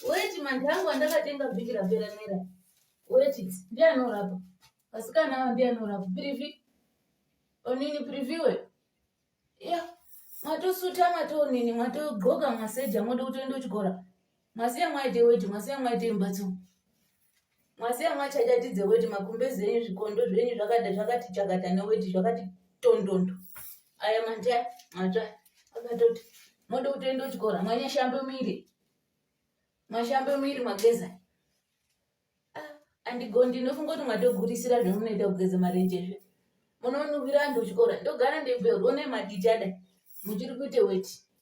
Weti manje angu andakatenga vhiki rapera mera. Weti ndiye anorapa. Vasikana ava ndiye anorapa. Privi. Onini priviwe. Ya. Mwatosuta mwatonini mwatodxoka mwaseja mwoda kutoenda kuchikora. Mwasiya mwaite weti mwasiya mwaite mbatso. Mwasiya mwachachatidze weti makumbezi enyu zvikondo zvenyu zvakada zvakati chakata neweti zvakati tondondo. Aya manja matsva akatoti moda kutoenda kuchikora mwanyashambe miri mwashambe miri mwageza ah, andigondi ndofunga kuti mwatogurisira zvemunoita kugeza marenje zve munonuvira antu kuchikora ndogara ndebveurwo nemadichada muchiri kuite weti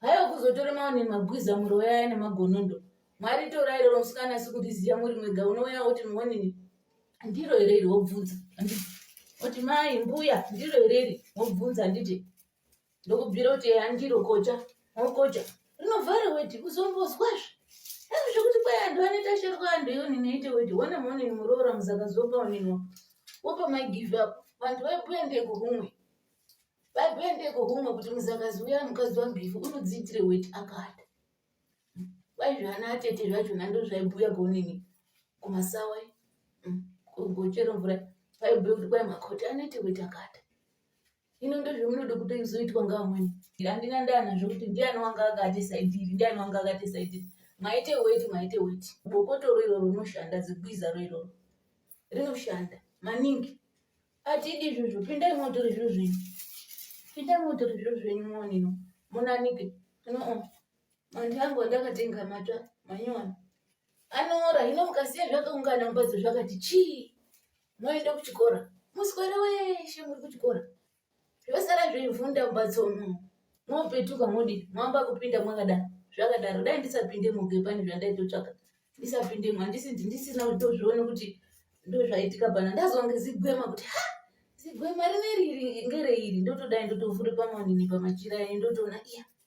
Hayo kuzotora maone magwiza muroyaya nemagonondo. Mwari torai rero musikana asi kuriziya muri mwega unouya woti muonini ndiro here iri wobvunza handiti woti mai mbuya ndiro here iri wobvunza handiti ndokubvira kuti eya ndiro kocha wokocha rinovhara weti kuzombozwazve asi zvekuti kwai anhu anoita shero kwaanhu yonini aite weti wona muonini muroora muzakazopa onini wopa mai give up vanhu vaibuya ndeko kumwe vakuendeko kumwe kuti muzakazi uya mukadzi wangu ife unodziitire weti akada kwai zvana atete zvachona ndo zvaibhuya gonini kumasawa mm, kuchero mvura vaibhuya kuti kwai makoti anoite weti akada ino ndozvamunoda kuti izoitwa ngaamweni handina ndana zvokuti ndiani wanga akati saidhiri ndiani wanga akati saidhiri maite weti maite weti bokotoro iroro rinoshanda zigwiza ro iroro rinoshanda maningi Atidi izvozvo, pindai motore zviro zvenyu. Pindai motore zviro zvenyu monino. Munanike. No. Manje angu andakatenga mata manyona. Anora, hino mukasiya zvakaungana mumbatso zvakati chii. Moenda kuchikora. Muswere weshe muri kuchikora. zvosara zveivhu ndambatso umu mopetuka modi moamba kupinda mwakadaro zvakadaro dai ndisapinde muge pane zvandaitotsvaka ndisapindemo handisi ndisina kutozviona kuti ndozvaitika pana ndazonge zigwema kuti ha zigwema rine riri ngereiri ndotodai ndotovhure pamanini pamachira ayi ndotoona iya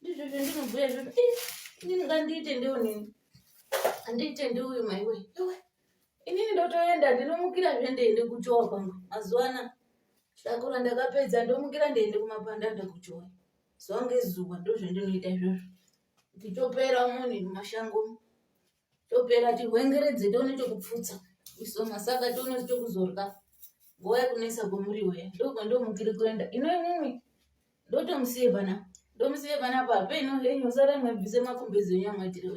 Ndizvo zvandinobhuya izvozvo. Ih, inini ngandiite ndiwo nini. Andiite ndiwo uyu maiwe. Iwe. Inini ndotoenda ndinomukira zve ndeiende kuchowa kwangu. Mazuva ana shakura ndakapedza ndomukira ndeiende kumapanda ndakuchowa. Zuva ngezuva ndozvandinoita izvozvo. Ndichopera muni mumashango. topera tihwengeredze tione chokupfutsa iso masaka tione chokuzorya nguva yekunetsa kwemuriwo iya ndokwandimukiri kuenda ino imimi ndotomusiye pana ndomusiye pana pape ino henyu sara mwebvise makumbezi enyu amwetirewe